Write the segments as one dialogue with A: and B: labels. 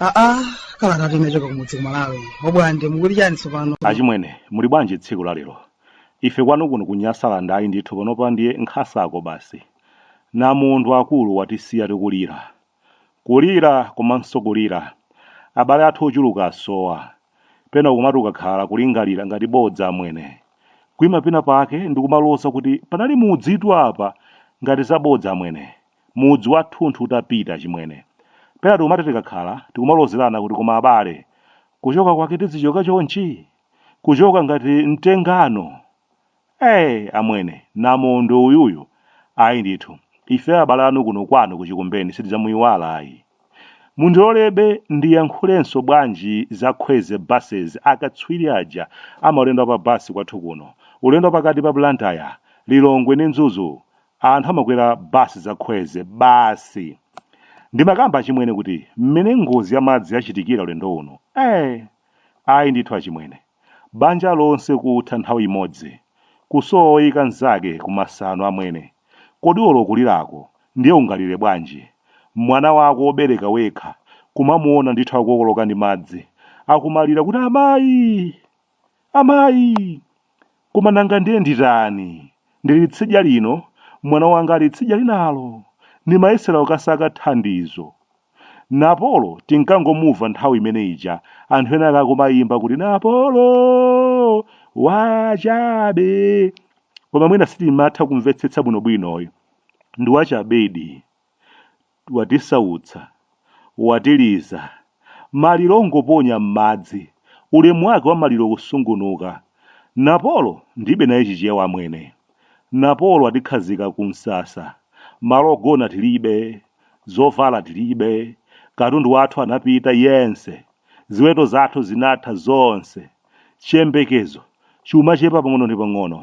A: aa kalatayi inachoka kumudzi kumalawi o Bwande mukuti chani tsopano achimwene muli
B: bwanji tsiku la lero ife kwanu kuno ku Nyasaland ayi ndithu panopa ndiye nkhasako basi namondwe akulu watisiya tikulira Kulira komanso kulira. Abale athu ochuluka asowa. Pena ukumati ukakhala kulingalira ngati bodza amwene. Kuima pena pake ndikumaloza kuti panali mudzitu apa ngati za bodza amwene. Mudzi wathunthu utapita achimwene. Pena tikumati tikakhala tikumalozerana kuti koma abale. Kuchoka kwake tizichoka chonchi? Kuchoka ngati mtengano. Ee, amwene, namondwe uyuyu! Ayi ndithu, ife abale anu kuno kwanu ku Chikumbeni sitidzamuiwala ayi. Mundilolebe ndiyankhulenso bwanji za Khweze Buses, akatswiri aja a maulendo a pa bus kwathu kuno, ulendo wa pakati pa Blantyre, Lilongwe ndi Mzuzu, anthu amakwera bus za Khweze basi! Ndimakamba achimwene kuti mmene ngozi ya madzi yachitikira ulendo uno, ee, ayi ndithu achimwene. Banja lonse kutha nthawi imodzi, kusowa woyika mnzake ku masano amwene, kodi olo kulirako ndiye ungalire bwanji? Mwana wako wobereka wekha kumamuona ndithu akukokoloka ndi madzi, akumalira kuti amayi! Amayi! Koma nanga ndiye nditani? Ndili tsidya lino, mwana wanga ali tsidya linalo. Ndimayesera kukasaka thandizo Napolo tinkangomuva nthawi imene ija anthu ena akumayimba kuti Napolo wachabe koma mwina sitimatha kumvetsetsa bwinobwino ayi ndi wachabedi watisautsa watiliza maliro ongoponya m'madzi ulemu wake wa maliro kusungunuka Napolo ndibe naye chichewa amwene Napolo watikhazika ku msasa malo ogona tilibe Zovala tilibe, katundu wathu anapita yense, ziweto zathu zinatha zonse, chiyembekezo chumachepa pang'ono ndi pang'ono.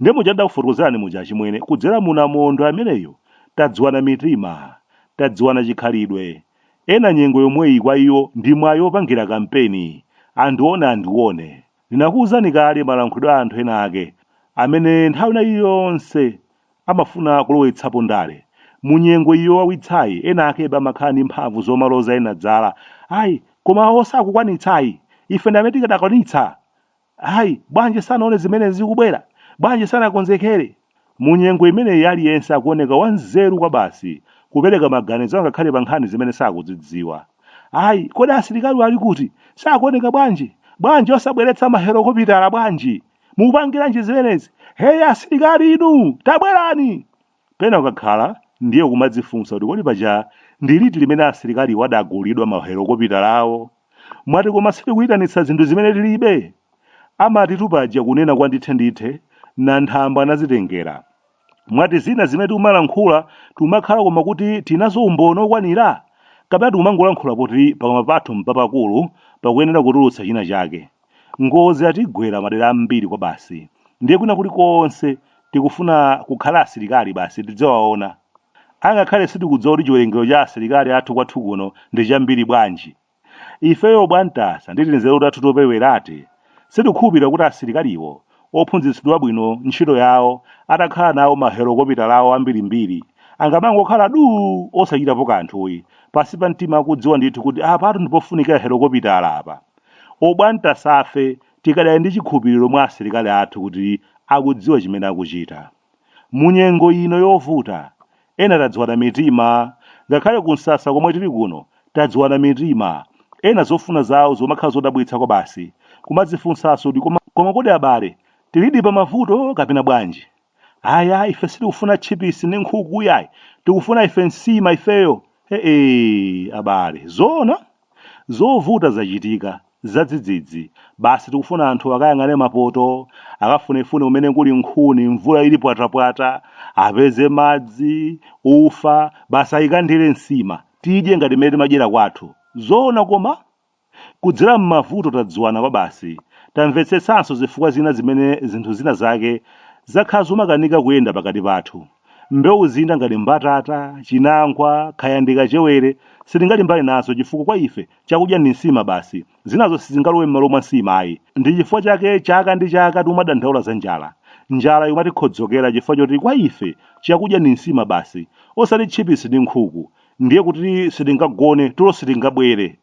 B: Nde muja ndidakufotokozerani muja achimwene, kudzera mu Namondwe ameneyo tadziwana mitima, tadziwana chikhalidwe. Ena nyengo yomweyi kwa iwo ndi mwayi opangira kampeni, andione andione. Ndinakuuzani kale malankhulidwe a anthu ena ake amene nthawi ina iliyonse amafuna kulowetsapo ndale. Mu nyengo iyi yowawitsayi, ena akeba amakhala ndi mphamvu zomaloza ena zala, Ayi, koma awo sakukwanitsa ayi, ife ndi amene tikadakwanitsa! Ayi, bwanji sanaone zimene zikubwera? Bwanji sanakonzekere? Mu nyengo imeneyi aliyense akuoneka wanzeru kwabasi kupereka maganizo angakhale pa nkhani zimene sakuzidziwa. Ayi, kodi asilikaliwo ali kuti? Sakuoneka bwanji? Bwanji osabweretsa mahelokopitala bwanji? mukupangiranji zimenezi heya asilikali inu tabwerani pena ukakhala ndiye kumadzifunsa kuti kodi paja ndi liti limene asilikaliwo adagulidwa mahelokopitala awo mwati koma sitikuyitanitsa zinthu zimene tilibe amatitu paja kunena kwa ndithe ndithe nanthambwe anadzitengera mwati zina zimene tikumalankhula tikumakhala koma kuti tinazo umboni okwanira kapena tikumangolankhula poti pakamwa pathu mpapakulu pakuyenera kutulutsa china chake Ngozi zatigwera madera ambiri kwabasi ndiye kwina kulikonse tikufuna kukhala asilikali basi tidziwaona angakhale sitikudziwa kuti chiwerengero cha asilikali athu kwathu kuno ndi chambiri bwanji. Ifeyo Obwantasa ndi tinzeru tathu topereweratu sitikukhulupirira kuti asilikaliwo ophunzitsidwa bwino ntchito yawo atakhala nawo mahelokopitala awo ambirimbiri angamangokhala duu osachitapo kanthu ayi, pansi pa mtima akudziwa ndithu kuti apatu ndipofunika helokopitala apa. Obwantasafe tikadali ndi chikhulupiriro mwa asilikali athu kuti akudziwa chimene akuchita. Munyengo ino yovuta, ena tadziwana mitima, ngakhale ku nsasa komwe tili kuno tadziwana mitima, ena zofuna zawo zikumakhala zodabwitsa kwabasi, kumadzifunsanso kuti koma kodi abale tilidi pa mavuto kapena bwanji? Ayi ayi ife sitikufuna tchipisi ndi nkhuku iyayi, tikufuna ife nsima ifeyo, he'eey abale, zoona? Zovuta zachitika, zadzidzidzi, basi tikufuna anthu akayang'ane mapoto, akafunefune kumene kuli nkhuni, mvula ili pwatapwata, apeze madzi, ufa, basi aikandire nsima, tidye ngati mmene timadyera kwathu. Zoona koma? Kudzera m'mavuto tadziwana kwabasi, tamvetsetsanso zifukwa zina zimene zinthu zina zake zakhala zomakanika kuyenda pakati pathu. Mbewu zina ngati mbatata, chinangwa, kaya ndi kachewere, sitingalimbane nazo chifukwa kwa ife chakudya ndi nsima basi. Zinazo sizingalowe m'malo mwa nsima ayi. Ndi chifukwa chake chaka ndi chaka tikumadandaula za njala. Njala imatikhodzokera chifukwa choti kwa ife chakudya ndi nsima basi, osati tchipisi ndi nkhuku. Ndiye kuti sitingagone, tulo sitingabwere.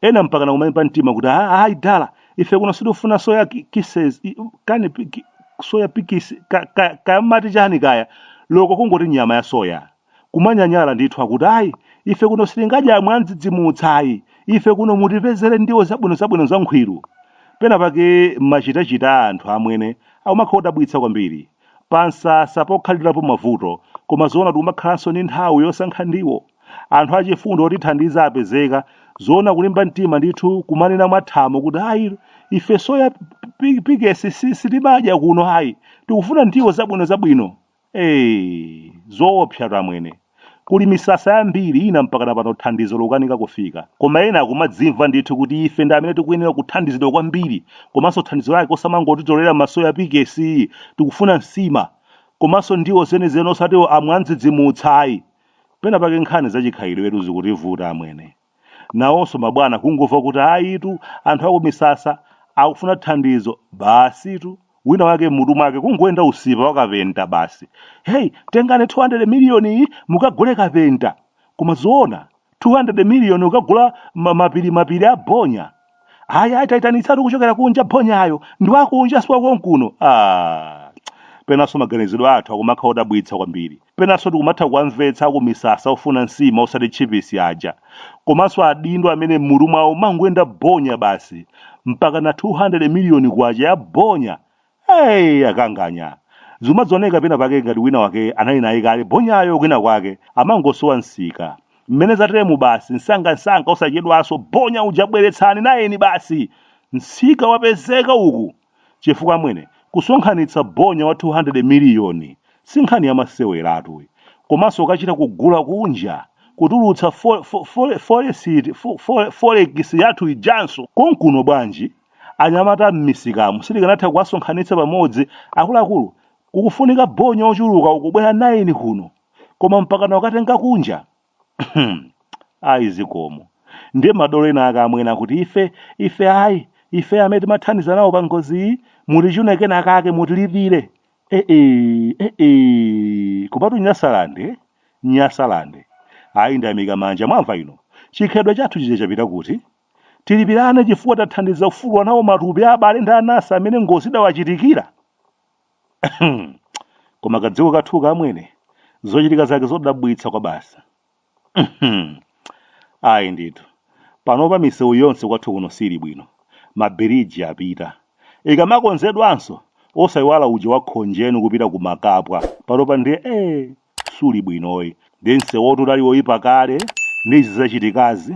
B: ena mpaka nakumalimba mtima kuti "Ah, ayi dala ife kuno sitifuna soya ki- kisses i- kani pi- ki- soya pikis ka- ka- kamati chani kaya loko kungoti nyama ya soya kumanyanyala ndithu akuti ayi ife kuno sitingadya amwandidzidzimutsa ayi ife kuno mutipezere ndiwo zabwino zabwino zankhwiru pena pake machitachita a anthu amwene akumakhala odabwitsa kwambiri pansasa pokhalirapo mavuto koma zoona tikumakhalanso ndi nthawi yosankha ndiwo anthu achifundo otithandiza apezeka zoona kulimba mtima ndithu kumanena mwathamo kuti ayi ife soya pi- pikesi si- sitimadya kuno ayi tikufuna ndiwo zabwino zabwino ee zoopsa tamwene Kuli misasa yambiri ina mpakana pano thandizo lokanika kufika. Koma ena akumadzimva ndithu kuti ife ndi amene tikuyenera kuthandizidwa kwambiri komanso thandizo lake osamangotitolera masoya pikesi, tikufuna nsima komanso ndiwo zenizeni osati amwandzidzimutsa ayi. Pena pake nkhani za chikhalidwetu zikutivuta amwene. Nawonso mabwana kungomva kuti ayitu anthu akumisasa akufuna thandizo, basitu wina wake m'mutu mwake kungoyenda usipa wa kapenta basi. Hey, tengani 200 miliyoni iyi mukagule kapenta. Koma zoona 200 miliyoni kukagula ma- mapiri mapiri a bonya. Ayi ayi taitanitsatu kuchokera kunja bonyayo ndi wakunja si wakonkuno. Ah, penanso maganizidwe athu akumakhala odabwitsa kwambiri. penanso tikumatha kuwamvetsa akumisasa ofuna nsima osati tchipisi aja komanso adindo amene m'mutu mwawo mwangoyenda bonya basi mpaka na 200 miliyoni kwacha ya bonya hey, akanganya zimadzaoneka pena pake ngati wina wake anali naye kale bonyayo kwina kwake amangosowa msika mmene zateremu basi msangamsanga osachedwanso bonya uja bweretsani nayeni basi msika wapezeka uku Chifukwa amwene, kusonkhanitsa bonya wa 200 miliyoni si nkhani yamaseweratu iyi. Komanso kukachita kugula kunja, kutulutsa fore, fo, fore, foresiti, fo, fore, forekisi yathu ijanso konkuno bwanji? Anyamata m'misikamu sitikanatha kuwasonkhanitsa pamodzi? Akuluakulu, kukufunika bonya ochuluka ukubwera 9 kuno, koma mpakana kukatenga kunja? ayi zikomo ndiye madolo ena ake amwene akuti ife ife ayi ife amene timathandiza nawo pa ngoziyi mutichune kena akake mutilipire ee ee ee kopatu nyasalande nyasalande ayi ndayamika manja Malawi ino chikhalidwe chathu chija chapita kuti tilipirane chifukwa tathandiza kufukula nawo matupi a abale ndi anasi amene ngozi idawachitikira koma kadziko kathuka amwene zochitika zake zodabwitsa kwa basa ayi ndithu panopa misewu yonse kwathu kuno sili bwino mabiriji apita ikamakonzedwanso osayiwala uja wakhonjeni kupita ku makapwa panopa ndiye ee suli bwinoyi ndi msewu oti udali woyipa kale ndi izi zachitikazi